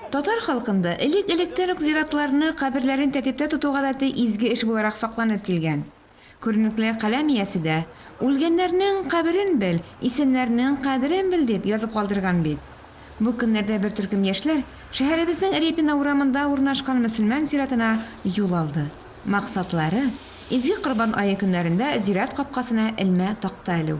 Татар халкында элек-электән үк зиратларны, каберләрен тәртиптә тоту гадәте изге эш буларак сакланып килгән. Күренекле каләм иясе дә, Үлгәннәрнең каберен бел, исәннәрнең кадерен бел, дип язып калдырган бит. Бу көннәрдә бер төркем яшьләр шәһәребезнең Репино урамында урнашкан мөселман зиратына юл алды. Максатлары, Изге Корбан ае көннәрендә зират капкасына элмә такта элү.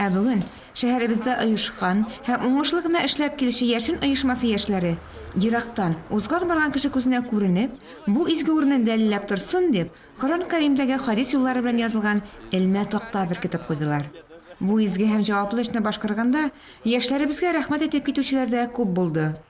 Ә бүген шәһәребездә оешкан һәм уңышлы гына эшләп килүче Яшен оешмасы яшьләре, ерактан, узган барган кеше күзенә күренеп, бу изге урынны дәлилләп торсын дип, Коръән Кәримдәге хадис юллары белән язылган элмә такта беркетеп куйдылар. Бу изге һәм җаваплы эшне башкарганда яшьләребезгә рәхмәт әйтеп китүчеләр дә күп булды.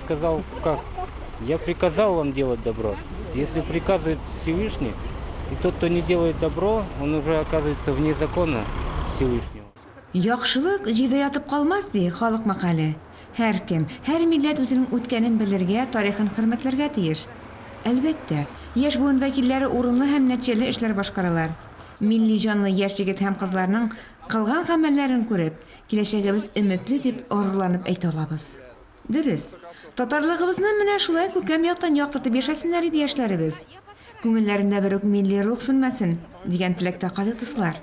Сказал, как? Я приказал вам делать добро. Если приказывает Всевышний, и тот, кто не делает добро, он уже оказывается вне закона Всевышнего. Яхшылык җирдә ятып калмас, ди халык мәкале. Һәркем, һәр милләт үзенең үткәнен белергә, тарихын хөрмәтләргә тиеш. Әлбәттә, яшь буын вәкилләре урынлы һәм нәтиҗәле эшләр башкаралар. Милли җанлы яшь егет һәм кызларның кылган гамәлләрен күреп, киләчәгебез өметле дип горурланып әйтә алабыз. Дөрес. Татарлыгыбызны менә шулай күркәм яктан яктыртып яшәсеннәр иде яшьләребез. Күңелләрендә бер үк милли рух сүнмәсен, дигән теләктә калыйк, дуслар.